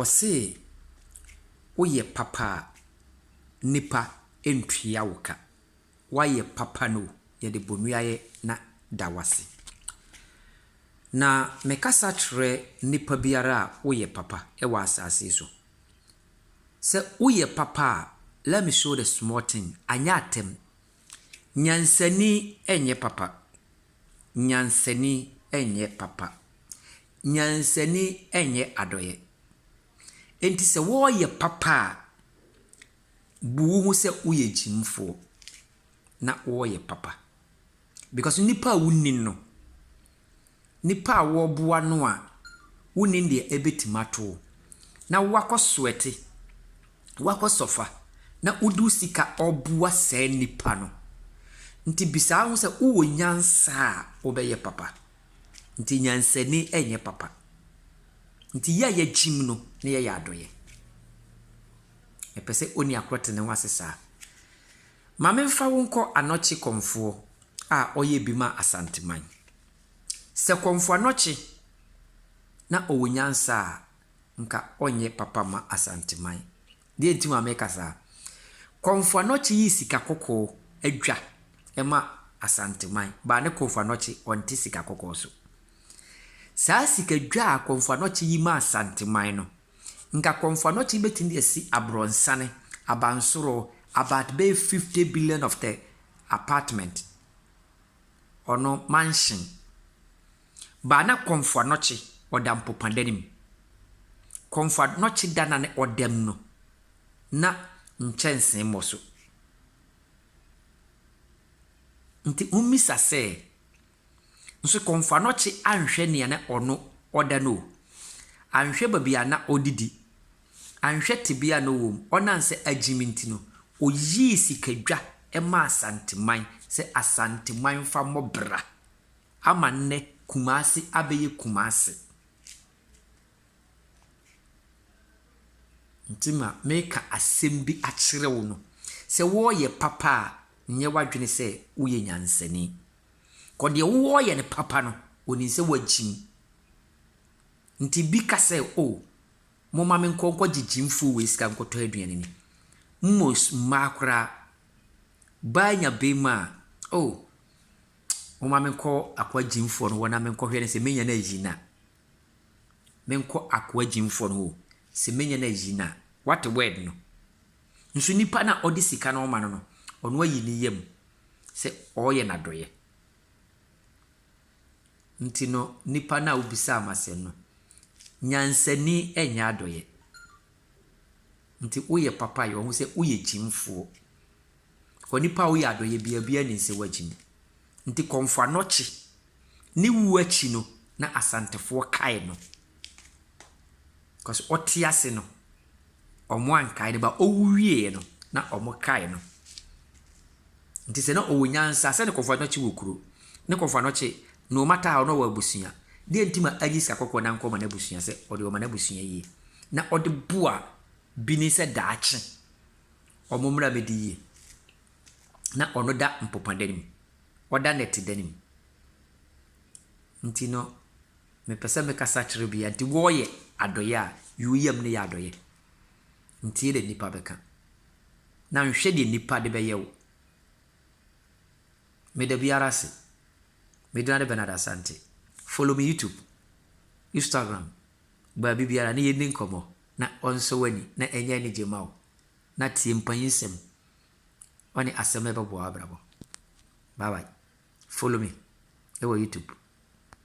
Ɔsee woyɛ papa a nipa ntua wo ka wayɛ papa no yɛde bonuayɛ na da wase na me kasa kyerɛ nipa biara a woyɛ papa wɔ asaase so sɛ woyɛ papa a let me show the small thing anyɛ atɛm nyansani nyɛ papa nyansani nyɛ papa Nyansani nyɛ adɔeɛ. Enti sɛ wɔreyɛ papa a, bu wo ho sɛ woyɛ gyimfoɔ na woreyɛ papa. Because nnipa a wonnim no, nnipa a wɔreboa no a wonnim deɛ ɛbɛtumi ato wo, na woakɔ sweɛte, woakɔ sɔfa, na wode wo sika reboa saa nnipa no. Nti bisa wo ho sɛ wowɔ nyansa a wobɛyɛ papa. Ntsi nyansani nnyɛ papa. Ntsi yɛ a yɛkyim no na yɛyɛ adɔyɛ. Mepɛ sɛ onua kor tse no ho ase saa. Ma memfa wo nkɔ Anokye Kɔmfoɔ a ɔyɛ bi maa Asanteman. Sɛ Kɔmfo Anokye na ɔwɔ nyansa a, nka ɔnyɛ papa mma Asanteman. Deɛ nti a meka saa. Komfo Anokye yi sika kɔkɔɔ adwa ma Asanteman baa ne Komfo Anokye ɔnte sika kɔkɔɔ so. Saa sika dwa a Komfo Anokye yi maa Asanteman no, nka Komfo Anokye bɛtumi de asi Abrɔnsane, Abansoro, about bɛyɛ 50 billion of the apartment, ɔno, mansion. Ba na kɔnfoa nɔkye ɔda mpopa da no mu. Kɔnfoa nɔkye da na ne ɔda mu no na nkyɛnsee mmɔ so. Nti mommisa sɛ, Nso kɔnfoa nɔkye anhwɛ nea na ɔno ɔda no o, anhwɛ baabi a na ɔdidi, anhwɛ tebea a na ɔwɔ mu, ɔnam sɛ agyimi nti no, ɔyii sikadwa maa Asanteman sɛ Asanteman mfa mmɔ bra. Ama nnɛ Kumasi abɛyɛ Kumase. Nti ma meka asɛm bi akyerɛ wo no, sɛ woreyɛ papa a, nyɛ w'adwene sɛ woyɛ nyansani. Kɔ deɛ wowɔ reyɛ no papa no, ɔnim sɛ woagyim. Nti bi ka sɛ, o, momma menkɔ nkɔgye gyimfoɔ wei sika nkɔtɔ aduane ni. Mmos mmaa koraa, baa nya beema a, o, Momma menkɔ akoa gyimfoɔ no hɔ na menkɔhwɛ no sɛ mɛnya no ayi no a. Menkɔ akoa gyimfoɔ no hɔ sɛ mɛnya no ayi no a. Woate word no? Nso nipa no a ɔde sika no rema no no, ɔno ayi ne yam sɛ ɔreyɛ no adɔeɛ. Nti no, nipa no a wobisaa me asɛm no, nyansani nyɛ adɔeɛ. Nti woyɛ papa a, yɛ wo ho sɛ woyɛ gyimfoɔ. Onipa a ɔyɛ adɔeɛ biara, obiara nim sɛ wagye mu. Nti Kɔmfo Anokye, ne wuo akyi no, na Asantefoɔ kae no. Because ɔte ase no, wɔankae no, but ɔwu wieeɛ no, na wɔkae no. Nti sɛ na ɔwɔ nyansa, sɛdeɛ Kɔmfo Anokye wɔ kuro, ne Kɔmfo Anokye, no matter how, na ɔwɔ abusua, deɛ nti ma anyi sika kɔkɔɔ na ankɔma n'abusua sɛ ɔde bɛma n'abusua yie? Na ɔde boa bi ne sɛ daakye, wɔn mmara bɛdi yie. Na ɔno da mpopadan mu, ɔda nnɛtedan mu. Nti no, mepɛ sɛ mekasa kyerɛ obiara nti wɔyɛ adɔeɛ a, yi wo yam no yɛ adɔeɛ. Ntie deɛ nnipa bɛka, na nhwɛ deɛ nnipa de bɛyɛ wo. Meda biara ase. Me din ara Bernard Asante. Follow me YouTube, Instagram. Baabi biara na yenni nkɔmmɔ na ɔnsɔ w'ani na ɛnyɛ anigye mma wo, na tie mpanyin nsɛm. Ɔne asɛm a ɛbɛboa w'abrabɔ. Bye bye. Follow me wɔ YouTube.